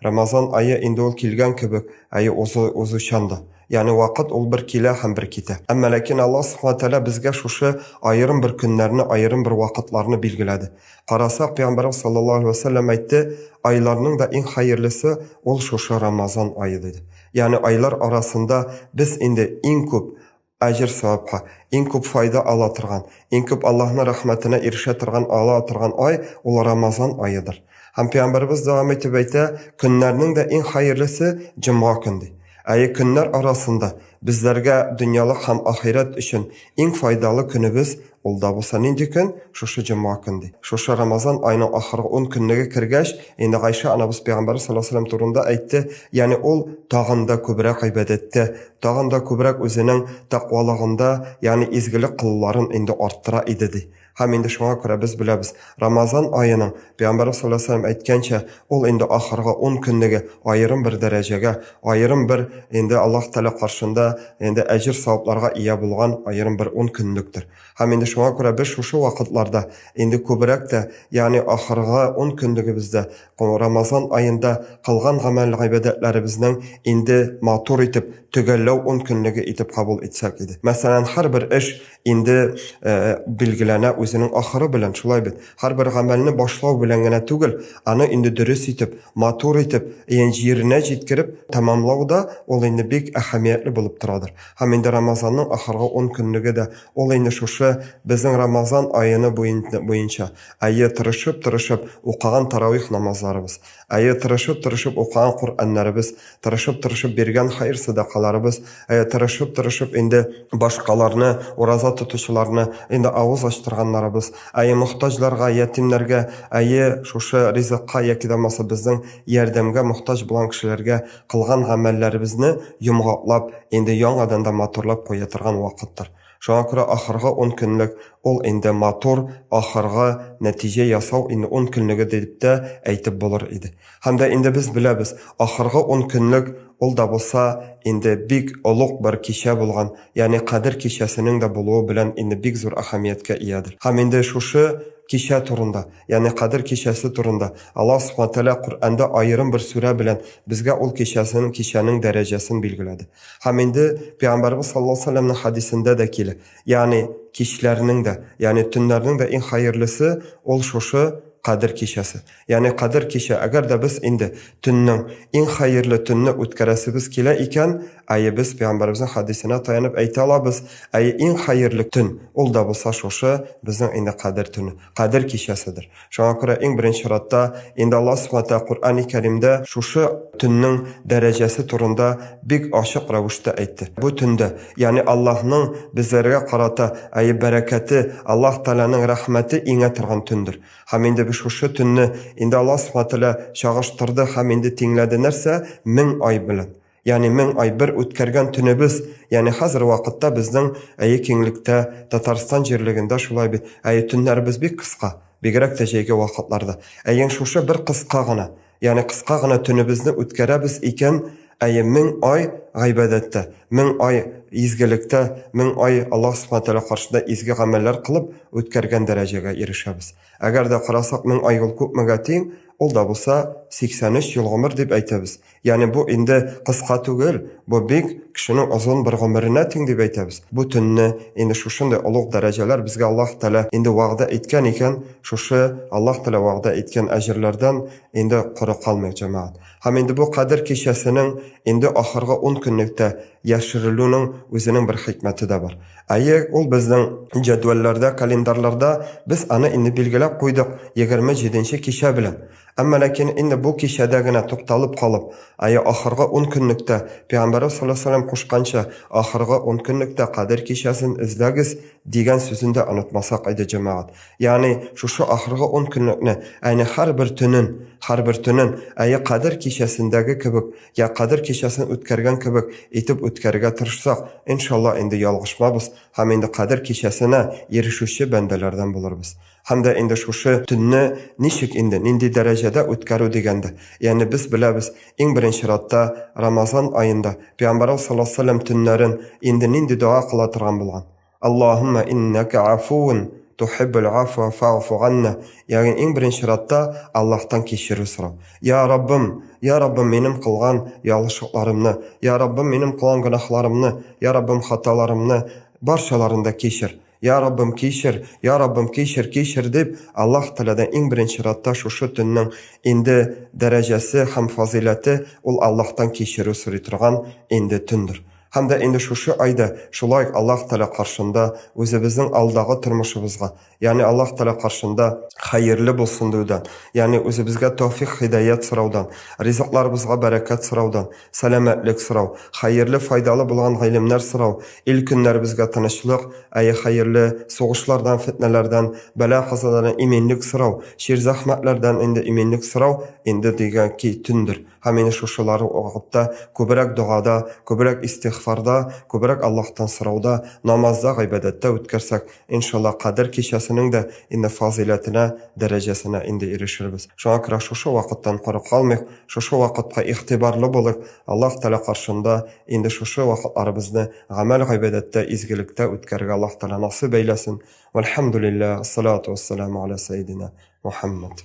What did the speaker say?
Рамазан ае инде ул килгән кебек, ае узу, узучан да. Ягъни вакыт ул бер килә һәм бер китә. Әмма ләкин Аллаһ Субхана Тәгалә безгә шушы аерым бер көннәрне, аерым бер вакытларны билгеләде. Карасак, Пәйгамбәрбез саллаллаһу алейһи вә сәлләм әйтте, Айларның да иң хәерлесе ул шушы Рамазан ае диде. Ягъни айлар арасында без инде иң күп Аҗр савапха, иң күп файда ала торган, иң күп Аллаһның рәхмәтенә ирешә торган ала торган ай, ул Рамазан аедыр. Һәм Пәйгамбәребез дәвам итеп әйтә, көннәрнең дә иң хәерлесе, җомга көн, ди. Әйе, көннәр арасында, безләргә дөньялык һәм ахирәт өчен иң файдалы көнебез, Ул да булса нинди көн? Шушы җомга көн, ди. Шушы Рамазан аеның ахыргы ун көнлеге кергәч, инде Гайшә анабыз пәйгамбәрбез саллаллаһу алейһи ва сәлләм турында әйтте, ягъни ул тагын да күбрәк гыйбадәттә, тагын да күбрәк үзенең тәкъвалыгында, ягъни изгелек кылуларын инде арттыра иде, ди. Һәм инде шуңа күрә без беләбез, Рамазан аеның, Пәйгамбәрбез саллаллаһу алейһи ва сәлләм әйткәнчә, ул инде ахыргы 10 көнлеге аерым бер дәрәҗәгә, аерым бер инде Аллаһ Тәгалә каршында инде әҗер-савапларга ия булган аерым бер 10 көнлектер. Һәм инде шуңа күрә без шушы вакытларда инде күбрәк тә, ягъни ахыргы 10 көнлегебездә, Рамазан аенда кылган гамәл-гыйбадәтләребезнең инде матур итеп, төгәлләү 10 көнлеге итеп кабул итсәк иде. Мәсәлән, һәрбер эш инде э, билгеләнә үзенең ахыры белән шулай бит һәрбер гамәлне башлау белән генә түгел аны инде дөрес итеп матур итеп ян җиренә җиткереп тәмамлау да ул инде бик әһәмиятле булып торадыр һәм инде рамазанның ахыргы он көнлеге дә ул инде шушы безнең рамазан аены буенча әйе тырышып тырышып укыган таравих намазларыбыз Әйе, тырышып-тырышып укыган Коръәннәребез, тырышып-тырышып биргән хәер-сәдакаларыбыз, әйе, тырышып-тырышып инде башкаларны, ураза тотучыларны инде авыз ачтырганнарыбыз, әйе, мохтаҗларга, ятимнәргә, әйе, шушы ризыкка яки дә булмаса безнең ярдәмгә мохтаҗ булган кешеләргә кылган гамәлләребезне йомгаклап, инде яңадан да матурлап куя торган вакыттыр. Шуңа күрә ахыргы ун көнлек ул инде матур ахыргы нәтиҗә ясау инде ун көнлеге дип тә әйтеп булыр иде. Һәм дә инде без беләбез, ахыргы ун көнлек ул да булса инде бик олуг бер кичә булган, ягъни Кадер кичәсенең дә булуы белән инде бик зур әһәмияткә иядер. Һәм инде шушы кичә турында, ягъни Кадер кичәсе турында Аллаһ Субхаһу ва Тәгалә Коръәндә аерым бер сүрә белән безгә ул кичәсен, кичәнең дәрәҗәсен билгеләде. Һәм инде Пәйгамбәрбез саллаллаһу алейһи вәсәлләмнең хәдисендә дә килә. Ягъни кичләрнең дә, ягъни төннәрнең дә иң хәерлесе ул шушы Кадер кичәсе. Ягъни Кадер кичә, әгәр дә без инде төннең иң хәерле төнне үткәрәсебез килә икән, әйе без Пәйгамбәрбезнең хәдисенә таянып әйтә алабыз, әйе иң хәерле төн ул да булса шушы безнең инде Кадер төне, Кадер кичәседер. Шуңа күрә иң беренче чиратта инде Аллаһ Субхану Тәгалә Коръәни Кәримдә шушы төннең дәрәҗәсе турында бик ачык рәвештә әйтте. Бу төндә, ягъни Аллаһның безләргә карата әйе бәрәкәте, Аллаһ Тәгаләнең рәхмәте иңә торган төндер. Һәм инде без шушы төнне инде Аллаһ Субхану Тәгалә чагыштырды һәм инде тиңләде нәрсә? Мең ай белән. Яни мең ай бер үткәргән төнебез, яни хәзер вакытта безнең әйе киңлектә, Татарстан җирлегендә шулай бит. Әйе төннәребез бик кыска, бигрәк тә җәйге вакытларда. Әйе шушы бер кыска гына, яни кыска гына төнебезне үткәрәбез икән, әйе мең ай гайбәдәттә, мең ай изгелектә, мең ай Аллаһ Субхана Тәгалә каршында изге гамәлләр кылып үткәргән дәрәҗәгә ирешәбез. Әгәр дә карасак мең ай ул күпмегә тиң? Ул да булса 83 ел гомер дип әйтәбез. Ягъни бу инде кыска түгел, бу бик кешенең озын бер гомеренә тиң дип әйтәбез. Бу төнне инде шушындый олуг дәрәҗәләр безгә Аллаһ Тәгалә инде вәгъдә иткән икән, шушы Аллаһ Тәгалә вәгъдә иткән әҗерләрдән инде коры калмыйк, җәмәгать. Һәм инде бу Кадер кичәсенең инде ахыргы ун көнлектә яшерелүнең үзенең бер хикмәте дә бар. Әйе, ул безнең җәдвәлләрдә, календарларда без аны инде билгеләп куйдык, егерме җиденче кичә белән. Әмма ләкин инде бу кичәдә генә тукталып калып, әйе, ахыргы ун көнлектә, пәйгамбәребез салләһу алейһи ва сәлләм кушканча, ахыргы ун көнлектә Кадер кичәсен эзләгез, дигән сүзен дә онытмасак иде, җәмәгать. Ягъни, шушы ахыргы ун көнлекне, әйне һәрбер төнен, һәрбер төнен, әйе, Кадер кичәсендәге кебек, йә Кадер кичәсен үткәргән кебек итеп үткәрергә тырышсак, иншалла, инде ялгышмабыз һәм инде Кадер кичәсенә ирешүче бәндәләрдән булырбыз. Һәм дә инде шушы төнне ничек инде, нинди дәрәҗәдә үткәрү дигәндә, ягъни без беләбез, иң беренче чиратта Рамазан аенда Пәйгамбәрбез саллаллаһу алейһи ва сәлләм төннәрен инде нинди дога кыла торган булган? Аллаһуммә иннәкә афуун тухиббул афуа фа'фу анна. Ягъни иң беренче чиратта Аллаһтан кичерү сорау. Я Раббым, я Раббым минем кылган ялгышлыкларымны, я Раббым минем кылган гөнаһларымны, я Раббым хаталарымны барчаларын да кичер. Я Раббым, кичер, я Раббым, кичер, кичер, дип, Аллаһ Тәгаләдән иң беренче чиратта шушы төннең инде дәрәҗәсе һәм фазыйләте ул Аллаһтан кичерү сорый торган инде төндер. Һәм дә инде шушы айда шулай ук Аллаһ Тәгалә каршында үзебезнең алдагы тормышыбызга, ягъни Аллаһ Тәгалә каршында хәерле булсын диюдән, ягъни үзебезгә тәүфикъ-һидаять сораудан, ризыкларыбызга бәрәкәт сораудан, сәламәтлек сорау, хәерле, файдалы булган гыйлемнәр сорау, ил-көннәребезгә тынычлык, әйе, хәерле, сугышлардан, фетнәләрдән, бәла-казадардан иминлек сорау, чир-зәхмәтләрдән инде иминлек сорау, инде дигән ки төндер. Һәм инде шушылар вакытта күбрәк догада, күбрәк истигъфарда, күбрәк Аллаһтан сорауда, намазда, гыйбадәттә үткәрсәк, Иншалла, Кадер кичәсенең дә инде фазыйләтенә, дәрәҗәсенә инде ирешербез. Шуңа күрә шушы вакыттан коры калмыйк, шушы вакытка игътибарлы булыйк, Аллаһ Тәгалә каршында инде шушы вакытларыбызны гамәл-гыйбадәттә, изгелектә үткәрергә Аллаһ Тәгалә насыйп әйләсен. Вәлхәмдүлилләһ, ас-салату ас-саламу галә сәединә Мухәммәд.